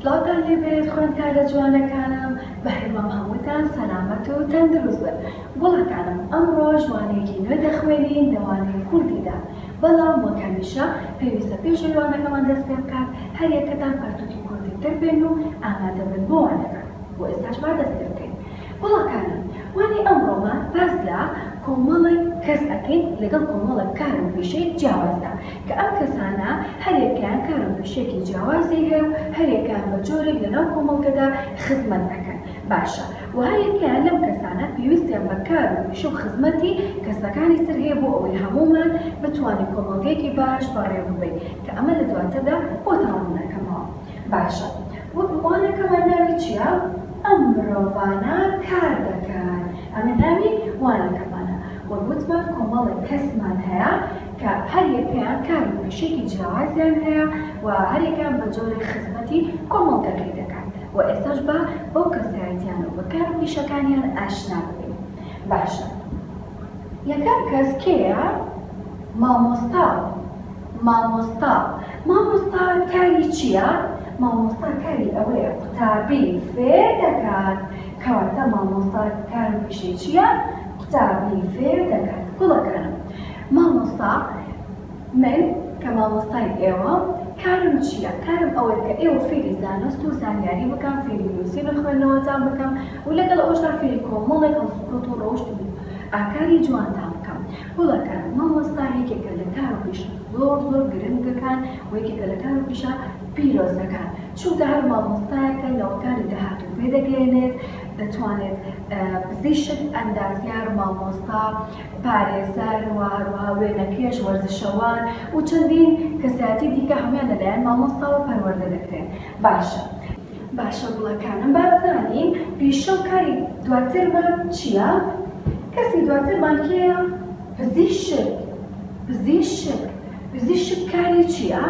سڵاوتان لێ بێت خوێندکارە جوانەکانم بەهیوام هەمووتان سەلامەت و تەندروست بن گوڵەکانم ئەمڕۆ جوانێکی نوێ دەخوێنین لەوانەی کوردیدا بەڵام وەک هەمیشە پێویستە پێش ئەوەی وانەکەمان دەست پێ بکات هەر یەکەتان پەرتووکی کوردیتر بێن و ئامادە بن بۆ وانەکە بۆ ئێستاش با دەست پێ بکەین گوڵەکانم وانەی ئەمڕۆمان باس لە کۆمەڵێک کەس ئەکەین لەگەڵ کۆمەڵێک کار و پیشەی جیاوازدا کە ئەم کەسانە هەر یەکەیان کار و پیشەیەکی جیاوازی هەیە و هەر یەکەیان بە جۆرێک لەناو کۆمەڵگەدا خزمەت ئەکەن باشە و هەر یەکەیان لەم کەسانە پێویستیان بە کار و پیشە و خزمەتی کەسەکانی تر هەیە بۆ ئەوەی هەموومان بتوانین کۆمەڵگەیەکی باش بەڕێوەببەین کە ئەمە لە دواتردا بۆتان ڕوونەکەمەوە باشە وەک وانەکەمان ناوی چیە ئەم مرۆڤانە کار دەکەن ئەمە ناوی وانەکەمانە وەک وتمان کۆمەڵێک کەسمان هەیە کە هەر یەکەیان کار و پیشەیەکی جیاوازیان هەیە و هەر یەکەیان بە جۆرێک خزمەتی کۆمەڵگەکەی دەکات. و ئێستاش با بەو کەسایەتیانە و بەکار و پیشەکانیان ئاشنا ببین باشە یەکەم کەس کێیە مامۆستا مامۆستا مامۆستا کاری چییە مامۆستا کاری ئەوەیە قوتابی فێر دەکات کەواتە مامۆستا کار و پیشەی چییە قوتابی فێر دەکات گوڵەکانم مامۆستا من کە مامۆستای ئێوە کارم چیە کارم ئەوەیە کە ئێوە فێری زانست و زانیاری بکەم فێری نوسین و خوێندنەوەتان بکەم و لەگەڵ ئەوەشدا فێری کۆمەڵێک هەڵسوکەوت و ڕەوشت و ئاکاری جوانتان بکەم گوڵەکەم مامۆستا یەکێکە لە کار و پیشە زۆر زۆر گرنگەکان و یەکێکە لە کار و پیشە پیرۆزەکان چونکە هەر مامۆستایەکە نەوەکانی داهاتوو پێ دەگەیەنێت دەتوانێت پزیشک ئەندازیار مامۆستا پارێزەر و هەروەها وێنەکێش، وەرزشەوان و چەندین کەسایەتی دیکە هەموویان لەلایەن مامۆستاوە پەروەردە دەکرێن. باشە. باشە گوڵەکانم با بزانین پیشە و کاری دواترمان چییە؟ کەسی دواترمان کێیە؟ پزیشک. پزیشک. پزیشک کاری چییە؟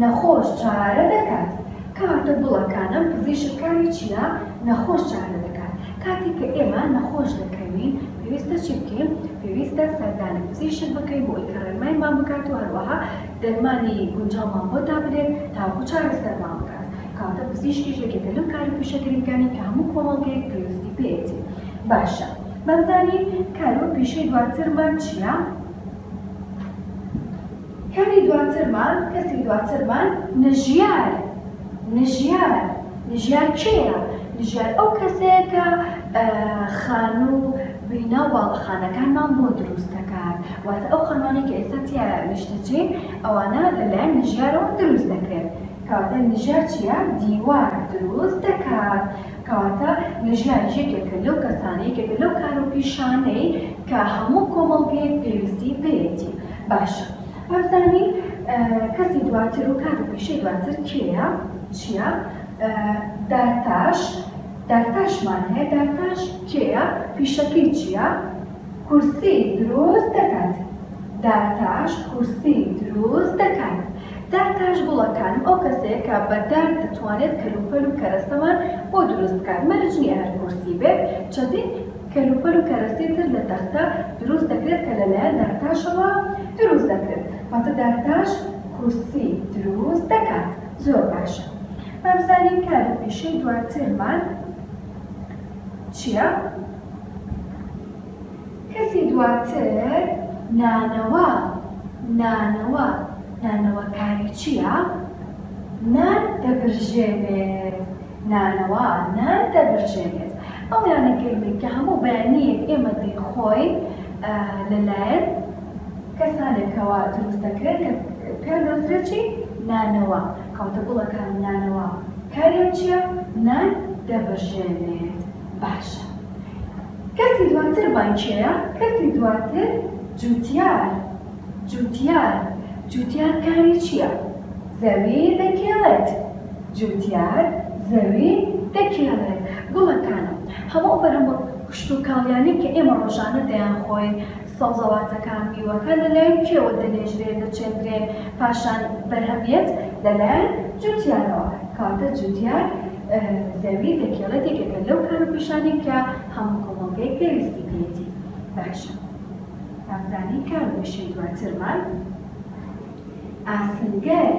نەخۆش چارە دەکات. کاتە گوڵەکانم پزیشک کاری چییە؟ نەخۆش چارە دەکات. کاتێک کە ئێمە نەخۆش دەکەوین پێویستە چی بکەین؟ پێویستە سەردانی پزیشک بکەین بۆ ئەوەی کە ڕێنمایمان بکات و هەروەها دەرمانی گونجاومان بۆ دابنێت تاوەکو چارەسەرمان بکات. کەواتە پزیشکیش یەکێکە لەو کار و پیشە گرنگانەی کە هەموو کۆمەڵگەیەک پێویستی پێیەتی. باشە با بزانین کار و پیشەی دواترمان چییە؟ کەمی دواترمان، کەسی دواترمان، نژیار، نژیار، نژیار کێیە؟ نژیار ئەو کەسەیە کە خانو و بینا و باڵەخانەکانمان بۆ دروست دەکات، واتە ئەو خانوانەی کە ئێستا تیایا نیشتەجێین ئەوانە لەلایەن نژیارەوە دروست دەکرێن، کەواتە نژیار چیە؟ دیوار دروست دەکات، کەواتە نژیار یەکێکە لەو کەسانە، یەکێکە لەو کار و پیشانەی کە هەموو کۆمەڵگەیەک پێویستی پێیەتی. باشە وابزانی کەسی دواتر و کات و پیشەی دواتر کێیە چیە دارتاش دارتاشمان هەیە دارتاش کێیە پیشەکەی چیە کورسی دروست دەکات دارتاش کورسی دروست دەکات دارتاش گوڵەکان ئەو کەسەیە کە بە دار دەتوانێت کەلوپەل و کەرەستەمان بۆ دروست بکات مەرج نییە هەر کورسی بێت چەندین کەلوپەل و کەرەستەی تر لە تەختە دروست دەکرێت کە لەلایەن دارتاشەوە دروست دەکرێت واتە دارتاش کورسی دروست دەکات زۆر باشە با بزانین کار و پیشەی دواترمان چییە کەسی دواتر نانەوا نانەوا نانەوا کاری چییە نان دەبرژێنێت نانەوا، نان دەبرژێنێت. ئەو نانە گەرمەی کە هەموو بەیانییەک ئێمە دەیخۆین لەلایەن کەسانێکەوە دروست دەکرێن کە پێیان دەوترێت چی؟ نانەوا. کەواتە گوڵەکانی نانەوا کاریان چییە؟ نان دەبرژێنێت. باشە کەرتی دواترمان کێیە؟ کەرتی دواتر جووتیار. جوتیار، جوتیار کاری چییە؟ زەوی دەکێڵێت. جوتیار زەوی دەکێڵێت. گوڵەکانم، هەموو ئەو کشتوکاڵیانەی کە ئێمە ڕۆژانە دەیانخۆین، سەوزەواتەکان، میوەکان لەلایەن کێوە دەنێژرێن، دەچێندرێن، پاشان بەرهەمێت؟ لەلایەن جوتیارەوە. کەواتە جوتیار زەوی دەکێڵێت یەکێکە لەو کار و پیشانەی کە هەموو کۆمەڵگەیەک پێویستی پێیەتی. باشە. بارزانی کە وشەی دواترمان ئاسنگەر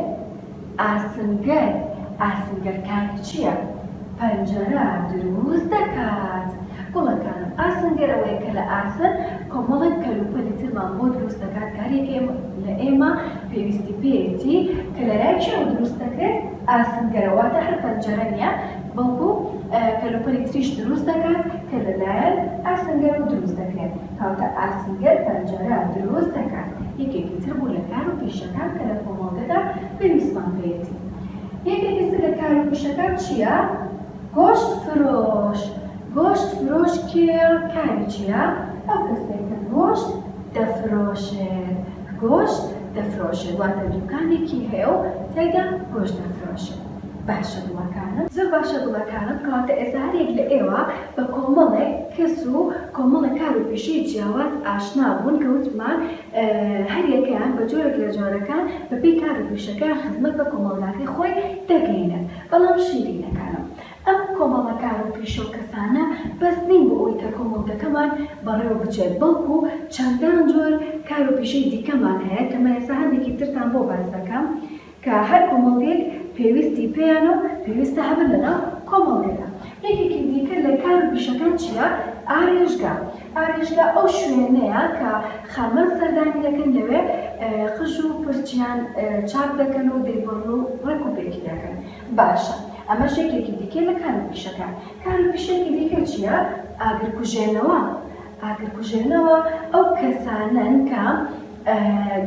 ئاسنگەر ئاسنگەر کاری چیە؟ پەنجەرە دروست دەکات گوڵەکانم ئاسنگەر ئەوەیە کە لە ئاسن کۆمەڵێک کەلوپەلی ترمان بۆ دروست دەکات کارێک لە ئێمە پێویستی پێیەتی کە لەلای کێوە دروست دەکرێت ئاسنگەرە واتە هەر پەنجەرە نیە بەڵکو کەلوپەلی تریش دروست دەکات کە لەلایەن ئاسنگەرەوە دروست دەکرێت تاوتە ئاسنگەر پەنجەرە دروست دەکات، یەکێکی تر بوو لە کار و پیشەکان کە لە کۆمەڵگەدا پێویستمان پێیەتی. یەکێکی تر لە کار و پیشەکان چییە؟ گۆشت فرۆش. گۆشت فرۆش کێیە؟ کاری چییە؟ ئەو کەسەیە کە گۆشت دەفرۆشێت. گۆشت دەفرۆشێت واتە دووکانێکی هەیە و تێیدا گۆشت دەفرۆشێت. باشە دڵەکانم. زۆر باشە دڵەکانم کەواتە ئێستا هەریەک لە ئێوە بە کۆمەڵێک کەس و کۆمەڵێک کار و پیشەی جیاواز ئاشنا بوون کە وتمان هەریەکەیان بە جۆرێک لە جۆرەکان بە پێی کار و پیشەکەیان خزمەت بە کۆمەڵگاکەی خۆی دەگەینێت بەڵام شیرینەکانم ئەم کۆمەڵە کار و پیشە و کەسانە بەس نین بۆ ئەوەی کە کۆمەڵگەکەمان بەڕێوە بچێت بەڵکو چەندان جۆر کار و پیشەی دیکەمان هەیە کە من ئێستا هەندێکی ترتان بۆ باس دەکەم کە هەر کۆمەڵگەیەک پێویستی پێیانە و پێویستە هەبن لەناو کۆمەڵگەدا. یەکێکی دیکە لە کار و پیشەکان چییە؟ ئارێژگا، ئارێژگا ئەو شوێنەیە کە خانمان سەردانی دەکەن، لەوێ قژ و پرچیان چاک دەکەن و دەیبڕن و ڕێک و پێکی دەکەن. باشە ئەمەش یەکێکی دیکەیە لە کار و پیشەکان. کار و پیشەیەکی دیکە چییە؟ ئاگرکوژێنەوە، ئاگرکوژێنەوە ئەو کەسانەن کە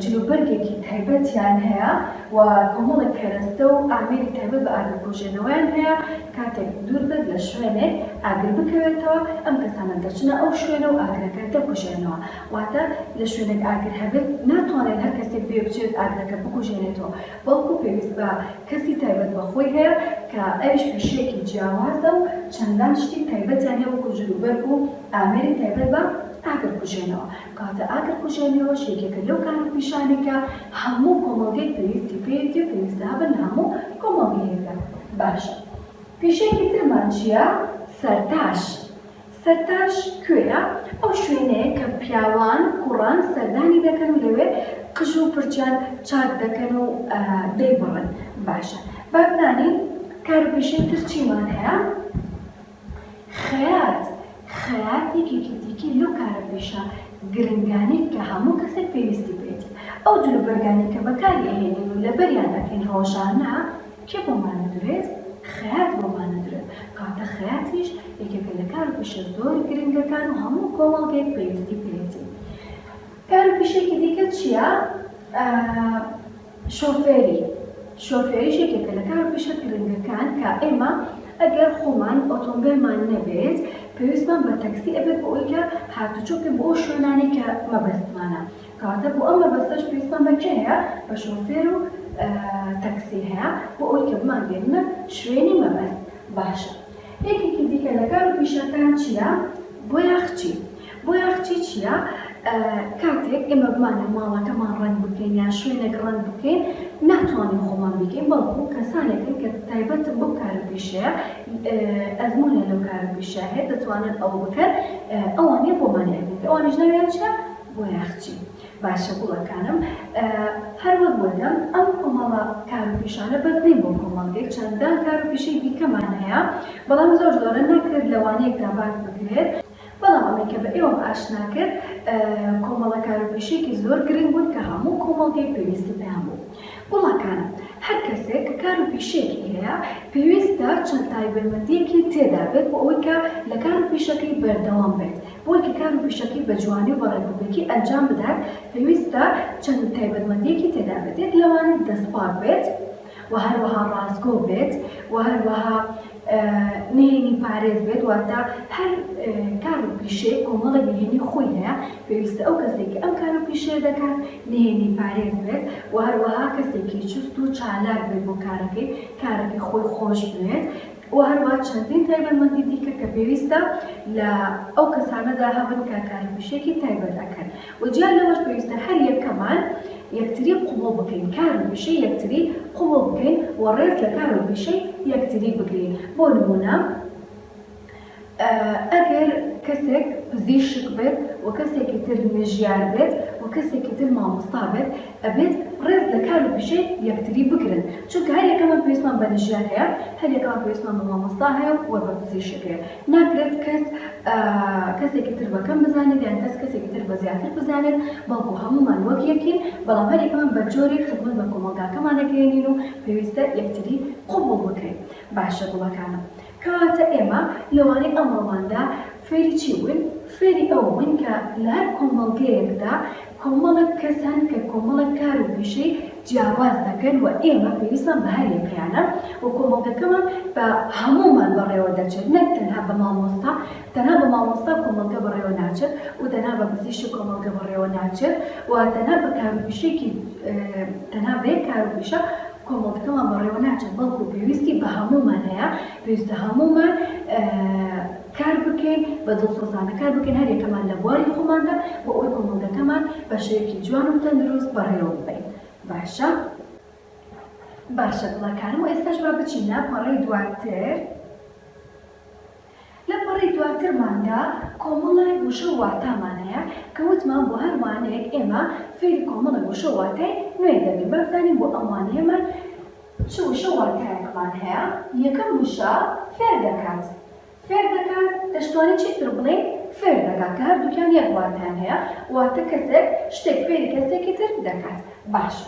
جلوبەرگێکی تایبەتیان هەیە و کۆمەڵێک کەرەستە و ئامێری تایبەت بە ئاگرکوژێنەوەیان هەیە، کاتێک دوور بێت لە شوێنێک ئاگر بکەوێتەوە ئەم کەسانە دەچنە ئەو شوێنە و ئاگرەکە دەکوژێنەوە، واتە لە شوێنێک ئاگر هەبێت ناتوانێت هەر کەسێک بێ بچێت ئاگرەکە بکوژێنێتەوە، بەڵکو پێویست بە کەسی تایبەت بە خۆی هەیە کە ئەویش پیشەیەکی جیاوازە و چەندان شتی تایبەتیان هەیە وەکو جلوبەرگ و ئامێری تایبەت بە ئاگر کوژێنەوە، کەواتە ئاگر کوژێنەوەش یەکێکە لەو کار و پیشانەی کە هەموو کۆمەڵگەیەک پێویستی پێیەتی و پێویستە هەبن لە هەموو کۆمەڵگەیەکدا. باشە پیشەیەکی ترمان چیە؟ سەرتاش. سەرتاش کوێیە؟ ئەو شوێنەیە کە پیاوان و کوڕان سەردانی دەکەن و لەوێ قژ و پرچیان چاک دەکەن و دەیبڕن. باشە با بزانین کار و پیشەی تر چیمان هەیە؟ خەیات، خەیات یەکێکی دیکەی لەو کارە پیشە گرنگانەی کە هەموو کەسێک پێویستی پێیەتی. ئەو جلوبەرگانەی کە بەکاری ئەهێنین و لەبەریان ئەکەین ڕۆژانە، کێ بۆ مانەدرێت؟ خەیات بۆ مانەدرێت، کاتە خەیاتیش یەکێکە لە کار و پیشە زۆر گرنگەکان و هەموو کۆمەڵگەیەک پێویستی پێیەتی. کار و پیشەیەکی دیکە چییە؟ شۆفێری، شۆفێریش یەکێکە لە کار و پیشە گرنگەکان کە ئێمە ئەگەر خۆمان ئۆتۆمبێلمان نەبێت پێویستمان بە تەکسی ئەبێت بۆ ئەوەی کە هاتوچۆ بکەین بۆ ئەو شوێنانەی کە مەبەستمانە. کاتە بۆ ئەم مەبەستەش پێویستمان بە کێ هەیە بە شۆفێر و تەکسی هەیە بۆ ئەوەی کە بمانگەیەننە شوێنی مەبەست باشە یەکێکی دیکە لە کار و پیشەکان چیە بۆیاخچی بۆیاخچی چیە کاتێک ئێمە بمانە ماڵەکەمان ڕەنگ بکەین یان شوێنێک ڕەنگ بکەین ناتوانین خۆمان بیکەین بەڵکو کەسانێکن کە تایبەتن بەو کار و پیشەیە ئەزمونیان لەو کار و پیشە هەیە دەتوانن ئەوە بکەن ئەوانە بۆمانیان بکە ئەوانیش ناویان چیە بۆ ناخچی باشە گوڵەکانم. هەر وەک وتم ئەم کۆمەڵە کار و پیشانە بەس نین بۆ کۆمەڵگەی چەندان کار و پیشەی دیکەمان هەیە بەڵام زۆر زۆرە ناکرێت لە وانەیەکدا باس بکرێت، بەڵام ئەوەی کە بە ئێوەم ئاشنا کرد کۆمەڵە کار و پیشەیەکی زۆر گرنگ بوون کە هەموو کۆمەڵگەی پێویستی پێیان بوو. گوڵەکانم هەر کەسێک کە کار و پیشەیەکی هەیە پێویستە چەند تایبەتمەندیەکی تێدا بێت بۆ ئەوەی کە لە کار و پیشەکەی بەردەوام بێت بۆی کە کار و پیشەکەی بە جوانی و بە ڕێکوپێکی ئەنجام بدات پێویستە چەند تایبەتمەندیەکی تێدا بێت یەک لەوانە دەست پاک بێت و هەروەها ڕاستگۆ بێت و هەروەها نهێنی پارێز بێت واتە هەر کار و پیشەیە کۆمەڵێک نهێنی خۆی هەیە پێویستە ئەو کەسێک کە ئەم کار و پیشەیە دەکات نهێنی پارێز بێت و هەروەها کەسێکی چوست و چالاک بێت بۆ کارەکەی کارەکەی خۆی خۆش بوێت و هەروەها چەندین تایبەتمەندی دیکە کە پێویستە لە ئەو کەسانەدا هەبن کە کاروپیشەکی تایبەت ئەکەن و جیا لەوەش پێویستە هەر یەکەمان یەکتری قبوڵ بکەین کار و پیشەی یەکتری قبوڵ بکەین و ڕێز لە کار و پیشەی یەکتری بگرین بۆ نموونە ئەگەر کەسێک پزیشک بێت و کەسێکی تر نەژیار بێت و کەسێکی تر مامۆستا بێت ئەبێت ڕێز لە کار و پیشەی یەکتری بگرن چونکە هەر یەکەمان پێویستمان بە نەژیار هەیە هەر یەکەمان پێویستمان بە مامۆستا هەیە و بە پزیشک هەیە ناکرێت کەس کەسێکی تر بە کەم بزانێت یان کەس کەسێکی تر بە زیاتر بزانێت بەڵکو هەموومان وەک یەکین بەڵام هەر یەکەمان بە جۆرێک خزمەت بە کۆمەڵگاکەمان دەگەیەنین و پێویستە یەکتری قبوڵ بکەین باشە گوڵەکانم. کەواتە ئێمە لەوانەی ئەمڕۆماندا فێری چی بووین؟ فێری ئەوە بووین کە لە هەر کۆمەڵگەیەکدا کۆمەڵێک کەس هەن کە کۆمەڵێک کار و پیشەی جیاواز دەکەن و ئێمە پێویستمان بە هەر یەکەیانە و کۆمەڵگەکەمان بە هەموومان بەڕێوە دەچێت نەک تەنها بە مامۆستا، تەنها بە مامۆستا کۆمەڵگە بەڕێوە ناچێت و تەنها بە پزیشک کۆمەڵگە بەڕێوە ناچێت و تەنها بە کار و پیشەیەکی تەنها بە یەک کار و پیشە. کۆمەڵگەمان بەڕێوە ناچێت بەڵکو پێویستی بە هەموومان هەیە پێویستە هەموومان کار بکەین بە دڵسۆزانە کار بکەین هەرێکەمان لە بواری خۆماندا بۆ ئەوەی کۆمەڵگەکەمان بە شێوەیەکی جوان و تەندروست بەڕێوە ببەین باشە باشە دڵەکانم و ئێستاش با بچینە پەڕەی دواتر لە پەڕەی دواترماندا کۆمەڵێک وشە و واتامان هەیە کە وتمان بۆ هەر وانەیەک ئێمە فێری کۆمەڵێک وشە و واتای نوێ دەبین با بزانین بۆ ئەم وانەیەمان چ وشە و واتایەکمان هەیە یەکەم وشە فێر دەکات فێر دەکات دەشتوانین چی تر بڵێین فێر دەکات کە هەردووکیان یەک واتایان هەیە واتە کەسێک شتێک فێری کەسێکی تر دەکات باشە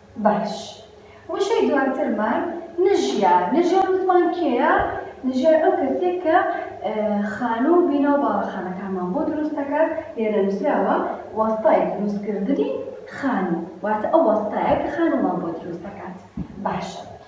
باش وشەی دواترمان نژیا نژیا وتمان کێیە نژیا ئەو کەسێک کە خانوو و بینا و باڵەخانەکانمان بۆ دروست دەکات لێرە نووسراوە وەستای دروستکردنی خانوو واتە ئەو وەستایە کە خانوومان بۆ دروست دەکات باشە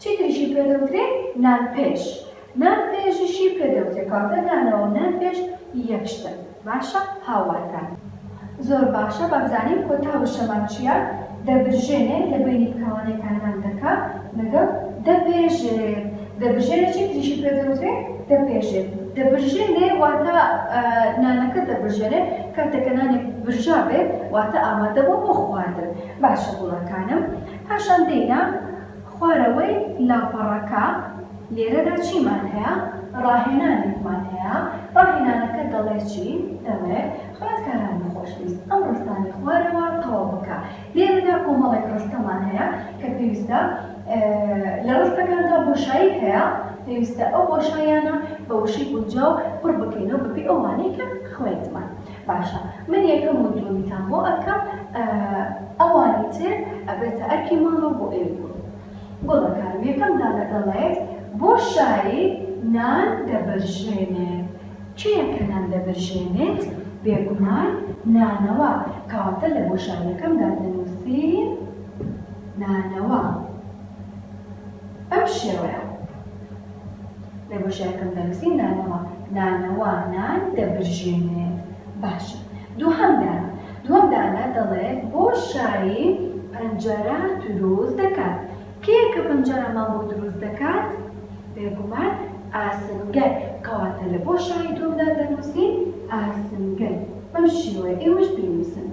چیتریشی پێ دەوترێ نانپێش نان پێژیشی پێ دەوترێ کاتە نانەوەو نان پێش یەک شتن باشە هاوارکە زۆر باشە بابزانین کۆتا وشەمان چیە دەبرژێنێ لە بەینی بکەوانێکا نان دەکا لەگەڵ دەپێژێ دەبرژێنێ چیتریشی پێ دەوترێ دەپێژێ دەبرژێنێ واتە نانەکە دەبرژێنێ کاتێکە نانێک برژابێ واتە ئامادەبوە بۆ خواردن باشە گوڵەکانم پاشان دێینە خوارەوەی لاپەڕەکە لێرەدا چیمان هەیە؟ ڕاهێنانێکمان هەیە، ڕاهێنانەکە دەڵێ چی؟ دەڵێ، خوێندکارانی خۆشەویست ئەم ڕستانەی خوارەوە تەواو بکە. لێرەدا کۆمەڵێک ڕستەمان هەیە کە پێویستە لە ڕستەکاندا بۆشایی هەیە، پێویستە ئەو بۆشاییانە بە وشەی گونجاو پڕ بکەینەوە بەپێی ئەو وانەی کە خوێندمان. باشە من یەکەم و دووەمیتان بۆ ئەکەم ئەوانی تر ئەبێتە ئەرکی ماڵەوە بۆ ئێوەی کوڕو گوڵەکانم یەکەم دانە دەڵێت بۆ شاری نان دەبرژێنێت کێیە کە نان دەبرژێنێت بێگومان نانەوا کەواتە لە بۆ شاریەکەمدا دەنووسین نانەوا بەم شێوەیە. لە گۆشەکەم دەنووسین نانەوا، نانەوا نان دەبرژێنێت. باشە دووهەم دانە، دووەم دانە دەڵێت بۆشایی پەنجەرە دروست دەکات. کێیە کە پەنجەرەمان بۆ دروست دەکات؟ بێگومان ئاسنگەر، کەواتە لە بۆشایی دووەمدا دەنووسین ئاسنگەر. بەم شێوەیە ئێوەش بینووسن.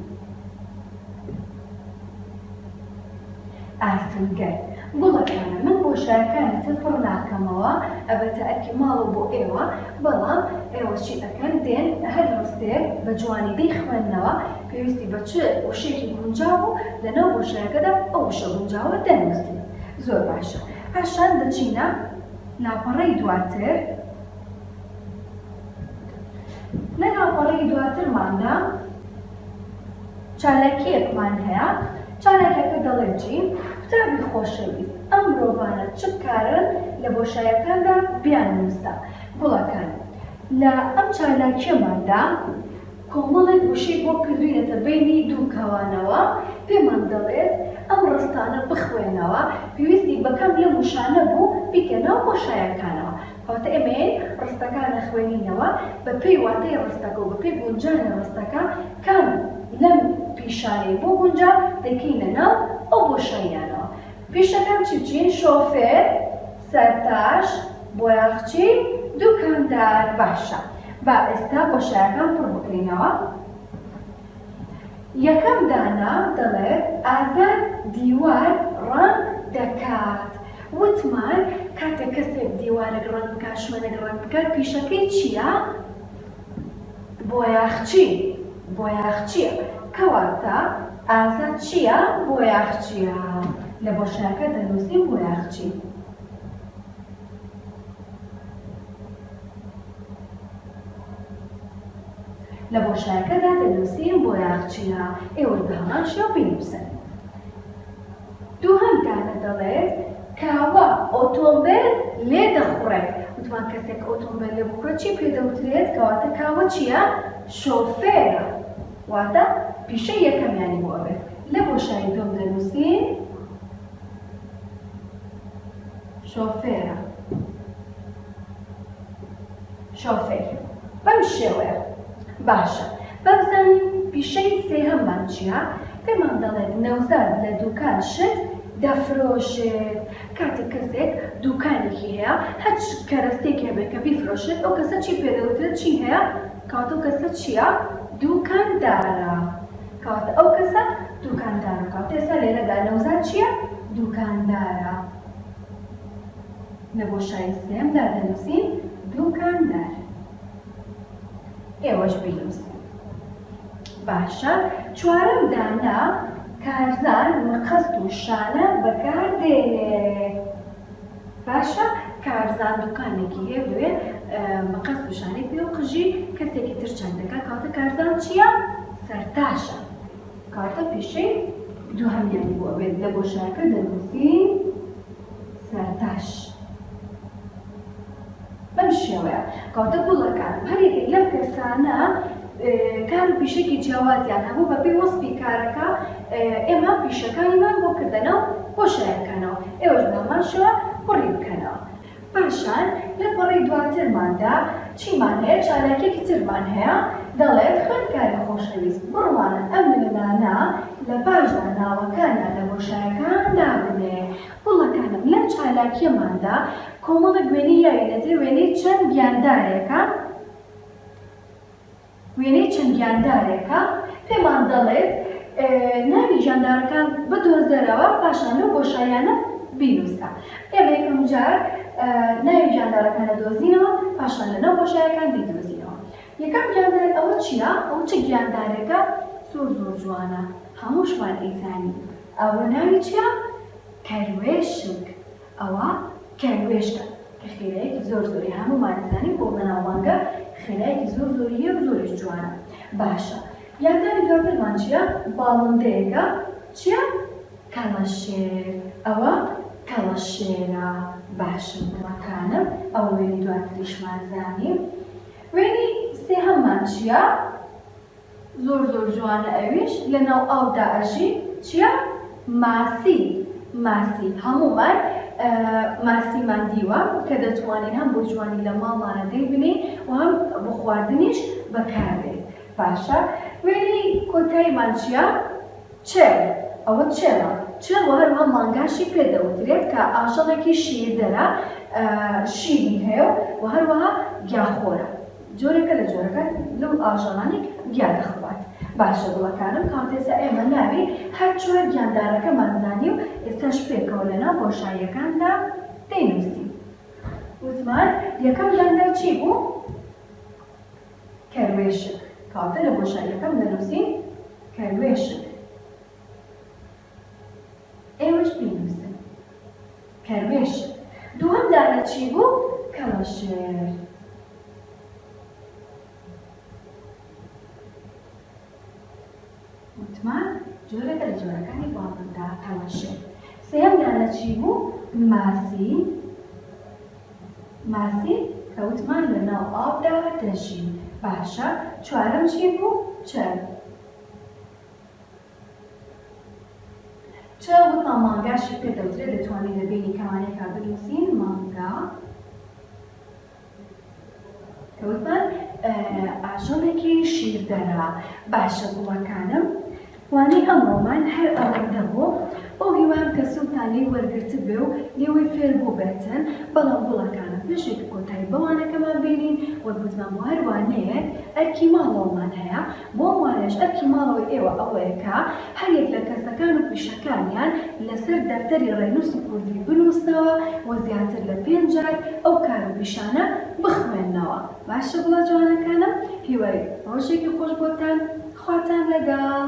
ئاسنگەر، گوڵەکانە من بۆشایەکانتر پڕ ناکەمەوە ئەبەتە ئەرکی ماڵە بۆ ئێوە بەڵام ئێوە چی ئەکەن دێن هەر ڕستەیەک بە جوانی دەیخوێننەوە پێویستی بە چ وشەیەکی گونجاو و لە ناو بۆشایەکەدا ئەو وشە گونجاوە دەنووسن زۆر باشە پاشان دەچینە لاپەڕەی دواتر لە لاپەڕەی دواترماندا. چالاکیەکمان هەیە چالاکیەکە دەڵێت جی قوتابی خۆشەویست ئەم مرۆڤانە چ بکارن لە بۆشایەکاندا بیان نووسە گوڵەکان لە ئەم چالاکیەماندا کۆمەڵێک وشەی بۆ کردوینەتە بەینی دوو کەوانەوە پێمان دەڵێت ئەم ڕستانە بخوێنەوە پێویستی بەکەم لەم وشانە بوو بیکە ناو بۆشایەکانەوە. کەواتە ئێمە یەی ڕستەکان ئەخوێنینەوە بە پێی واتای ڕستەکە و بە پێی گونجانی ڕستەکە کام لەم پیشانەی بۆ گونجا دەیکەینە ناو ئەو بۆشاییانەوە. پیشەکان چی چین؟ شۆفێر، سەرتاش، بۆیاخچی، دوکاندار. باشە با ئێستا بۆشایەکان پڕ بکەینەوە. یەکەم دانا دەڵێت ئازاد دیوار ڕەنگ دەکات وتمان کاتێک کەسێک دیوارێک ڕەنگ بکات شوێنێک ڕەنگ بکات پیشەکەی چیە بۆیاخچی بۆیاخچیە کەواتە ئازاد چیە بۆیاخچیە لە بۆشایەکە دەنووسین بۆیاخچی. لە بۆشایەکەدا دەنووسین بۆراق چیا، ئێوەش بە هەمان شێوە بینووسن. دووهەم دانە دەڵێت، کاوە ئۆتۆمبێل لێ دەخوڕێت. وتمان کەسێک ئۆتۆمبێل لێ بخورێت چی پێ دەوترێت؟ کەواتە کاوە چییە؟ شۆفێرە. واتە پیشەی یەکەمیانی بۆ ئەبێت. لە بۆشایی دووەم دەنووسین. شۆفێرە شۆفێر بەم شێوەیە باشە بابزانین پیشەی سێهەممان چیە پێمان دەڵێت نەوزاد لە دوکان شت دەفرۆشێت کاتێک کەسێک دوکانێکی هەیە هەچ کەرەستێک هەبێت کە بیفرۆشێت ئەو کەسە چی پێدەوترێت چی هەیە کاتۆ کەسە چییە دوکاندارە کەواتە ئەو کەسە دوکاندارە کەواتە ئێستا لێرەدا نەوزاد چییە؟ دوکاندارە لە بۆشایی سێمدا دەنووسین دوکاندار ئێوەش بینووسن باشە چوارەم دانا کارزان مەقەست و شانە بەکاردێنێ باشە کارزان دوکانێکی هەیە و دەوێت بە قەست وشانێک پێ و قژی کەسێکی تر چەند دەکات کەواتە کارزان چییە؟ سەرتاشە کەواتە پیشەی دووهەمیانی بۆ ئەبێت لە گۆشارەکە دەنووسین سەرتاش. بەم شێوەیە کەواتە گوڵەکان هەریەکێک لەم کەسانە کار و پیشەکی جیاوازیان هەبوو بەپێی وەسفی کارەکە ئێمە پیشەکانیمان بۆ کردەنەو بۆ شایەکانەوە ئێوەش بە هەمان شێوە پڕی بکەنەوە پاشان لە پەڕی دواترماندا چیمان هەیە چالاکێکی ترمان هەیە دەڵێ خوێندکاری خۆشەویست بڕوانە ئەم وێنانە لە پاشدا ناوەکانیان لە بۆشایەکان دابنێ گوڵەکانم لەم چالاکیەماندا کۆمەڵێک وێنەی یاوینەتێ وێنەی چەند گیاندارێکە وێنەی چەند گیاندارێکە پێمان دەڵێت ناوی گیاندارەکان بدۆزەرەوە پاشان لەو بۆشاییانە بینووسە ئێمە یەکەم جار ناوی گیاندارەکان دەدۆزینەوە پاشان لە ناو بۆشایەکان دیدۆزینەوە یەکەم گیاندار ئەوە چییە ئەو چ گیاندارێکە زۆر زۆر جوانە هەمووشمان ئەیزانین ئەوە ناوی چیە؟ کەروێشک ئەوە کەروێشکە کە خێرایەکی زۆر زۆری هەموومان ئەزانین بۆ بەناوبانگە خێرایەکی زۆر زۆری هەیە و زۆریش جوانە باشە یاندانی دواترمان چیە باڵندەیەکە چیە کەڵەشێر ئەوە کەڵەشێرە باشە گوڵەکانم ئەوە وێنەی دواتریشمان زانی وێنەی سێهەممان چیە؟ زۆر زۆر جوانە ئەویش لەناو ئاو دا ئەژی چیا ماسی ماسی هەموومان ماسیمان دیوە کە دەتوانین هەم بۆ جوانی لە ماڵمانە دەی بنێین و هەم بۆ خواردنیش بەکار دێ باشە وێنەی کۆتایمان چیا چێ ئەوە چێمە چێ و هەروە مانگاشی پێ دەوترێت کە ئاژەڵێکی شیردەرە شیری هەیە و هەروەها گیاخۆرە جۆرێکە لە جۆرەکان لەو ئاژەڵانەی گیا دەخوات باشە گوڵەکانم کاونتێسە ئێمە ناوی هەر چوار گیاندارەکەمان زانی و ئێستاش پێکەوە لە ناو بۆشاییەکاندا دەینووسین وتمان یەکەم دەنگدەر چی بوو کەروێشک کەواتە لە بۆشاییەکەم دەنووسین کەروێشک. ئێوەش بینووسن کەروێش دووەم دانە چی بوو کەڵەشێر. وتمان جۆرەکە لە جۆرەکانی باڵندە کەڵەشێر سێم دانە چی بوو ماسی ماسی کە وتمان لە ناو ئاودا دەژی باشە چوارم چی بوو چەند چ وتا مانگاشی پێ دەوترێ دەتوانین لە بینی کەوانێکا بنووسین مانگا کە وتمان ئاژەڵێکی شیردەرە باشە گوڵەکانم وانەی ئەمڕۆمان هەر ئەوەندە بوو بەو هیوام کە سوودتان لێی وەرگرت بێ و لێوەی فێر بووبێتن بەڵام گوڵەکانم پێشێک کۆتایی بەوانەکەمان بینین وەک وتمان بۆ هەر وانەیەک ئەرکی ماڵەوەمان هەیە بۆم وایەش ئەرکی ماڵەوەی ئێوە ئەوەیە کە هەر یەک لە کەسەکان و پیشەکانیان لەسەر دەفتەری ڕێنووسی کوردی بنووسنەوە و زیاتر لە پێنج جار ئەو کار و پیشانە بخوێننەوە باشە بڵا جوانەکانم هیوای ڕۆژێکی خۆش بۆتان خواتان لەگەڵ.